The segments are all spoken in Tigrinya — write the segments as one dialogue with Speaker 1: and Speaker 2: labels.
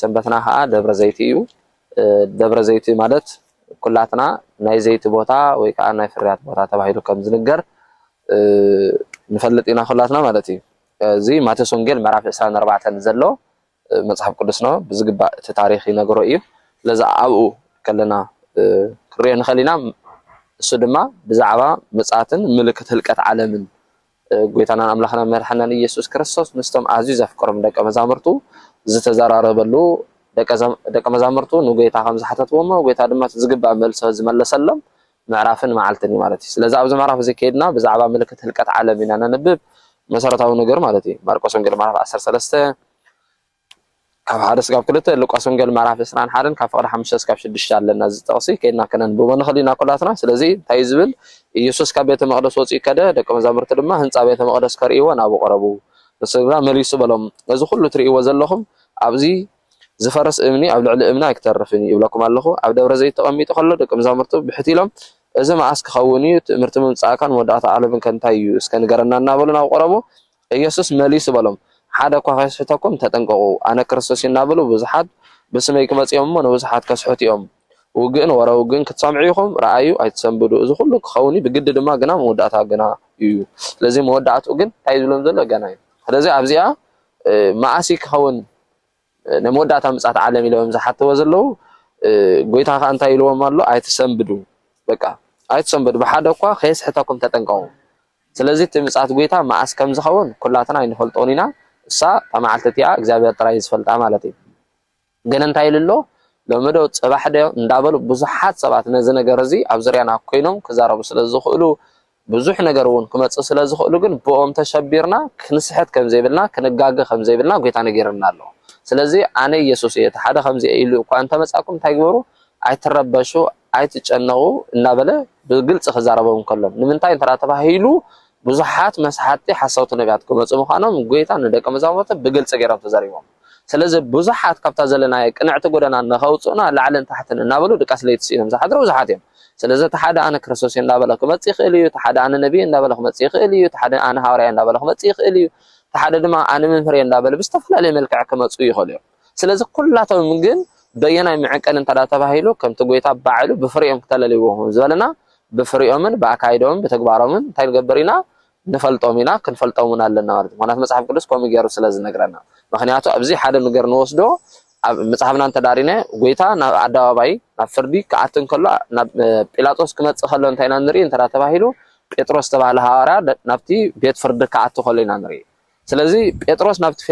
Speaker 1: ሰንበትና ከኣ ደብረ ዘይቲ እዩ። ደብረ ዘይቲ ማለት ኩላትና ናይ ዘይቲ ቦታ ወይ ከኣ ናይ ፍርያት ቦታ ተባሂሉ ከም ዝንገር ንፈልጥ ኢና ኩላትና ማለት እዩ። እዚ ማቴዎስ ወንጌል ምዕራፍ ዕስራን ኣርባዕተን ዘሎ መጽሓፍ ቅዱስና ብዝግባእ እቲ ታሪኽ ይነግሮ እዩ። ስለዚ ኣብኡ ከለና ክንሪኦ ንኽእል ኢና። እሱ ድማ ብዛዕባ ምጽኣትን ምልክት ህልቀት ዓለምን ጐይታናን ኣምላኽናን መድሓኒናን ኢየሱስ ክርስቶስ ምስቶም ኣዝዩ ዘፍቅሮም ደቀ መዛሙርቱ ዝተዘራረበሉ ደቀ መዛሙርቱ ንጐይታ ከም ዝሓተትዎ እሞ ጐይታ ድማ እቲ ዝግባእ መልሶ ዝመለሰሎም ምዕራፍን መዓልትን እዩ ማለት እዩ። ስለዚ ኣብዚ ምዕራፍ እዚ ከይድና ብዛዕባ ምልክት ህልቀት ዓለም ኢና ነንብብ መሰረታዊ ነገር ማለት እዩ። ማርቆስ ወንጌል ምዕራፍ ዓሰርተ ሰለስተ ካብ ሓደ ስጋብ ክልተ ሉቃስ ወንጌል ምዕራፍ ዕስራን ሓደን ካብ ፍቅሪ ሓሙሽተ ስካብ ሽዱሽተ ኣለና እዚ ጥቅሲ ከይድና ከነንብቦ ንክእል ኢና ኩላትና ስለዚ እንታይ ዝብል ኢየሱስ ካብ ቤተ መቅደስ ወጽኡ ከደ ደቂ መዛሙርቲ ድማ ህንጻ ቤተ መቅደስ ከርእይዎ ናብኡ ቀረቡ ንሱ ግና መሊሱ በሎም እዚ ኩሉ ትርእይዎ ዘለኹም ኣብዚ ዝፈርስ እምኒ ኣብ ልዕሊ እምኒ ኣይክተርፍን እዩ ይብለኩም ኣለኹ ኣብ ደብረ ዘይት ተቀሚጡ ከሎ ደቂ መዛሙርቱ ብሕቲ ኢሎም እዚ መዓስ ክኸውን እዩ ትእምርቲ ምምጻእካን መወዳእታ ዓለምን ከንታይ እዩ እስከ ንገረና እናበሉ ናብ ቀረቡ ኢየሱስ መሊሱ በሎም፣ ሓደ እኳ ኸይስሕተኩም ተጠንቀቑ። ኣነ ክርስቶስ እየ እናበሉ ብዙሓት ብስመይ ክመጹ እዮም እሞ፣ ንብዙሓት ከስሕቱ እዮም። ውግእን ወረ ውግእን ክትሰምዑ ኢኹም፣ ርኣዩ፣ ኣይትሰንብዱ። እዚ ኹሉ ክኸውን እዩ፣ ብግዲ ድማ፣ ግና መወዳእታ ገና እዩ። ስለዚ መወዳእትኡ ግን እንታይ እዩ ዝብሎም ዘሎ? ገና እዩ። ስለዚ ኣብዚኣ መኣስ እዩ ክኸውን? ናይ መወዳእታ ምጽኣት ዓለም ኢሎም ዝሓተዎ ዘለዉ ጎይታ ከኣ እንታይ ኢልዎም ኣሎ ኣይትሰንብዱ በቃ ኣይትሰንብዱ ብሓደ እኳ ከየስሕተኩም ተጠንቀቑ ስለዚ እቲ ምጽኣት ጎይታ መኣስ ከም ዝኸውን ኩላትና ኣይንፈልጦን ኢና እሳ እታ መዓልቲ እቲኣ እግዚኣብሔር ጥራይ ዝፈልጣ ማለት እዩ ግን እንታይ ኢሉ ኣሎ ሎሚ ዶ ጽባሕ ዶ እንዳበሉ ብዙሓት ሰባት ነዚ ነገር እዚ ኣብ ዙርያና ኮይኖም ክዛረቡ ስለ ዝኽእሉ ብዙሕ ነገር እውን ክመጽእ ስለ ዝኽእሉ ግን ብኦም ተሸቢርና ክንስሕት ከም ዘይብልና ክንጋገ ከም ዘይብልና ጎይታ ነጊርና ኣሎ ስለዚ ኣነ ኢየሱስ እየ እቲ ሓደ ከምዚ ኢሉ እኳ እንተመጻኩም እንታይ ግበሩ ኣይትረበሹ ኣይትጨነቑ እናበለ ብግልጺ ክዛረቦም እንከሎ ንምንታይ እንተ ተባሂሉ ብዙሓት መስሓቲ ሓሰውቲ ነቢያት ክመጹ ምዃኖም ጎይታ ንደቀ መዛሙርቱ ብግልጺ ገይሮም ተዛሪቦም ስለዚ ብዙሓት ካብታ ዘለናያ ቅንዕቲ ጎደና ንኸውጽኡና ላዕልን ታሕትን እናበሉ ድቃስ ለይቲ ስኢኖም ዝሓድሩ ብዙሓት እዮም። ስለዚ እቲ ሓደ ኣነ ክርስቶስ እየ እንዳበለ ክመጽእ ይኽእል እዩ፣ እቲ ሓደ ኣነ ነብይ እየ እንዳበለ ክመጽእ ይኽእል እዩ፣ እቲ ሓደ ኣነ ሃዋርያ እየ እንዳበለ ክመጽእ ይኽእል እዩ፣ እቲ ሓደ ድማ ኣነ መምህር እየ እንዳበለ ብዝተፈላለየ መልክዕ ክመጽኡ ይኽእሉ እዮም። ስለዚ ኩላቶም ግን በየናይ ምዕቀን እንተዳ ተባሂሉ ከምቲ ጎይታ ባዕሉ ብፍሬኦም ክተለልይዎም ዝበለና ብፍሬኦምን ብኣካይደኦምን ብተግባሮምን እንታይ ንገብር ኢና ንፈልጦም ኢና ክንፈልጦም ውን ኣለና ማለት እዩ ምክንያቱ መጽሓፍ ቅዱስ ከምኡ ጌሩ ስለ ዝነግረና ምክንያቱ ኣብዚ ሓደ ነገር ንወስዶ ኣብ መጽሓፍና እንተዳሪነ ጎይታ ናብ ኣደባባይ ናብ ፍርዲ ክኣቲ እንከሎ ናብ ጲላጦስ ክመጽእ ከሎ እንታይ ኢና ንርኢ እንተ ተባሂሉ ጴጥሮስ ዝተባህለ ሃዋርያ ናብቲ ቤት ፍርዲ ክኣቲ ከሎ ኢና ንርኢ ስለዚ ጴጥሮስ ናብቲ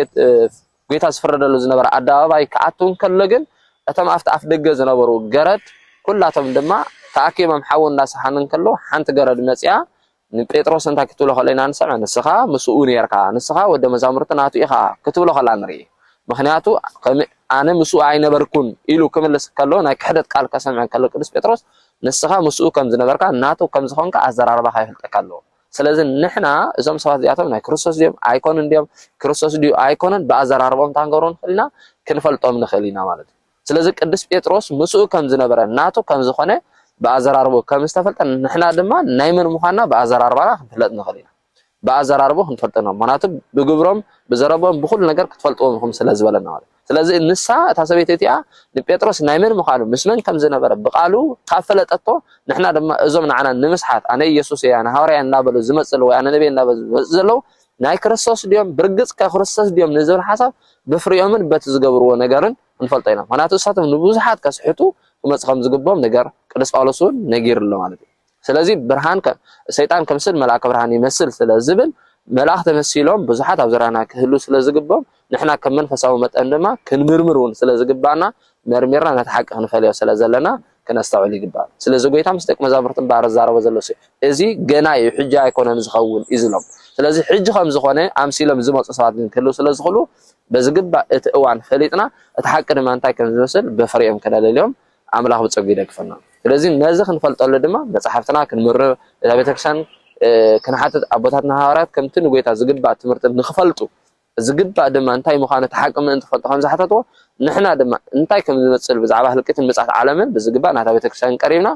Speaker 1: ጎይታ ዝፍረደሉ ዝነበረ ኣደባባይ ክኣቱ እንከሎ ግን እቶም ኣብቲ ኣፍ ደገ ዝነበሩ ገረድ ኩላቶም ድማ ተኣኪቦም ሓዊ እንዳሰሓኑ እንከለዉ ሓንቲ ገረድ መፅያ ንጴጥሮስ እንታይ ክትብሎ ከሎ ኢና ንሰምዕ? ንስኻ ምስኡ ኔርካ፣ ንስኻ ወደ መዛሙርቲ ናቱ ኢኻ ክትብሎ ከላ ንርኢ። ምኽንያቱ ኣነ ምስኡ ኣይነበርኩን ኢሉ ክምልስ ከሎ ናይ ክሕደት ቃል ከሰምዕ ከሎ ቅዱስ ጴጥሮስ ንስኻ ምስኡ ከም ዝነበርካ ናቱ ከም ዝኾንካ ኣዘራርባኻ የፍልጠካ ኣሎ። ስለዚ ንሕና እዞም ሰባት እዚኣቶም ናይ ክርስቶስ ድዮም ኣይኮኑን ድዮም ክርስቶስ ድዩ ኣይኮነን ብኣዘራርቦም ታንገሮን ንኽእል ኢና ክንፈልጦም ንኽእል ኢና ማለት እዩ። ስለዚ ቅዱስ ጴጥሮስ ምስኡ ከም ዝነበረ ናቱ ከም ዝኾነ ብኣዘራርቦ ከም ዝተፈልጠ ንሕና ድማ ናይ መን ምዃንና ብኣዘራርባና ክንፍለጥ ንኽእል ኢና ብኣዘራርቦ ክንፈልጦ ና ምክንያቱ ብግብሮም ብዘረቦም ብኩሉ ነገር ክትፈልጥዎም ኢኹም ስለ ዝበለና ማለት ስለዚ ንሳ እታ ሰበይቲ እቲኣ ንጴጥሮስ ናይ መን ምዃኑ ምስ መን ከም ዝነበረ ብቃሉ ካብ ፈለጠቶ ንሕና ድማ እዞም ንዓና ንምስሓት ኣነ ኢየሱስ እያ ንሃዋርያ እናበሉ ዝመፅሉ ወይ ኣነ ነቢይ እናበሉ ዝመፅ ዘለዉ ናይ ክርስቶስ ድዮም? ብርግጽ ከ ክርስቶስ ድዮም ንዝብል ሓሳብ ብፍሪኦምን በቲ ዝገብርዎ ነገርን ክንፈልጦ ኢና። ምኽንያቱ ንሳቶም ንብዙሓት ከስሕቱ ክመጹ ከም ዝግብኦም ነገር ቅዱስ ጳውሎስ እውን ነጊሩ ኣሎ ማለት እዩ። ስለዚ ብርሃን ሰይጣን ክምስል መልኣከ ብርሃን ይመስል ስለ ዝብል መልኣኽ ተመሲሎም ብዙሓት ኣብ ዙርያና ክህሉ ስለ ዝግብኦም ንሕና ከም መንፈሳዊ መጠን ድማ ክንምርምር እውን ስለ ዝግብኣና መርሚርና ነቲ ሓቂ ክንፈልዮ ስለ ዘለና ክነስተውዕል ይግባእ። ስለዚ ጎይታ ምስ ደቂ መዛሙርቱ እምበኣር ዝዛረቦ ዘሎ እዚ ገና እዩ ሕጂ ኣይኮነን ዝኸውን እዩ ዝብሎም። ስለዚ ሕጂ ከም ዝኾነ ኣምሲሎም ዝመጹ ሰባት ግን ክህልው ስለ ዝኽእሉ በዝግባእ እቲ እዋን ፈሊጥና እቲ ሓቂ ድማ እንታይ ከም ዝመስል ብፍሬኦም ክነለልዮም ኣምላኽ ብጸጉ ይደግፈና። ስለዚ ነዚ ክንፈልጠሉ ድማ መጽሓፍትና ክንምርር እዛ ቤተክርስትያን ክንሓትት ኣቦታትና ሃዋርያት ከምቲ ንጎይታ ዝግባእ ትምህርቲ ንክፈልጡ ዝግባእ ድማ እንታይ ምዃኑ እቲ ሓቂ ምእንቲ ክፈልጡ ከም ዝሓተትዎ፣ ንሕና ድማ እንታይ ከም ዝመጽል ብዛዕባ ህልቂትን ምጽኣት ዓለምን ብዝግባእ ናብታ ቤተ ክርስቲያን ቀሪብና፣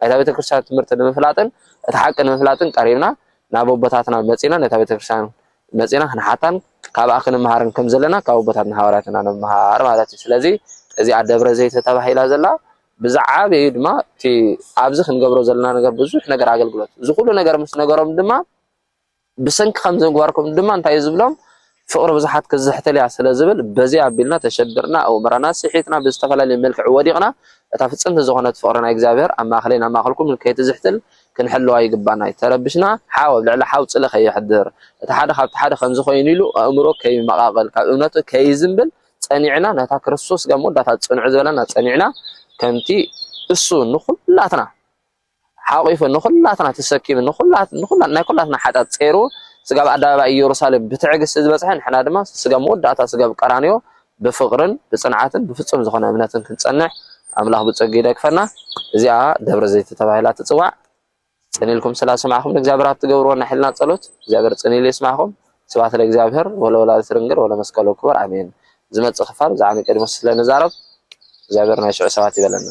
Speaker 1: ናይታ ቤተ ክርስቲያን ትምህርቲ ንምፍላጥን እቲ ሓቂ ንምፍላጥን ቀሪብና ናብ ኣቦታትና መጺእና ነታ ቤተ ክርስቲያን መጺእና ክንሓታን ካብኣ ክንመሃርን ከም ዘለና ካብ ኣቦታትና ሃዋርያት ኢና ንመሃር ማለት እዩ። ስለዚ እዚኣ ደብረ ዘይት ተባሂላ ዘላ ብዝዓበዩ ድማ እቲ ኣብዚ ክንገብሮ ዘለና ነገር ብዙሕ ነገር ኣገልግሎት እዚ ኩሉ ነገር ምስ ነገሮም ድማ ብሰንኪ ከምዚምግባርኩም ድማ እንታይ እዩ ዝብሎም ፍቕሪ ብዙሓት ክትዝሕትል እያ ስለ ዝብል በዚ ኣቢልና ተሸቢርና ኣእምሮና ስሒትና ብዝተፈላለየ መልክዕ ወዲቕና እታ ፍጽምቲ ዝኾነት ፍቕሪ ናይ እግዚኣብሔር ኣብ ማእኸለይን ኣብ ማእኸልኩምን ከይትዝሕትል ክንሕልዋ ይግባና ይተረብሽና ሓው ኣብ ልዕሊ ሓው ጽልኢ ከየሕድር እቲ ሓደ ካብቲ ሓደ ከምዚ ኮይኑ ኢሉ ኣእምሮ ከይመቓቐል ካብ እምነቱ ከይዝንብል ጸኒዕና ነታ ክርስቶስ ጋብ መወዳእታ ጽንዑ ዝበለና ጸኒዕና ከምቲ እሱ ንኹላትና ሓቚፉ ንዅላትና ተሰኪሙ ናይ ኵላትና ሓጢኣት ጸይሩ ስጋብ ኣደባባይ ኢየሩሳሌም ብትዕግስቲ ዝበጽሐ ንሕና ድማ ስጋብ መወዳእታ ስጋብ ቀራንዮ ብፍቕርን ብጽንዓትን ብፍጹም ዝኾነ እምነትን ክንጸንሕ ኣምላኽ ብጸጊኡ ይደግፈና እዚኣ ደብረ ዘይቲ ተባሂላ ትጽዋዕ ጽን ኢልኩም ስላ ሰማዕኹም ንእግዚኣብሔር ኣብ ትገብርዎ ናይ ሕልና ጸሎት እግዚኣብሔር ጽን ኢሉ ይስማዕኹም ስብሐት ለእግዚኣብሔር ወለወላዲቱ ድንግል ወለመስቀሉ ክቡር ኣሜን። ዝመጽእ ክፋል ብዛዕባ ኒቆዲሞስ ስለ ንዛረብ እግዚኣብሔር ናይ ሽዑ ሰባት ይበለና።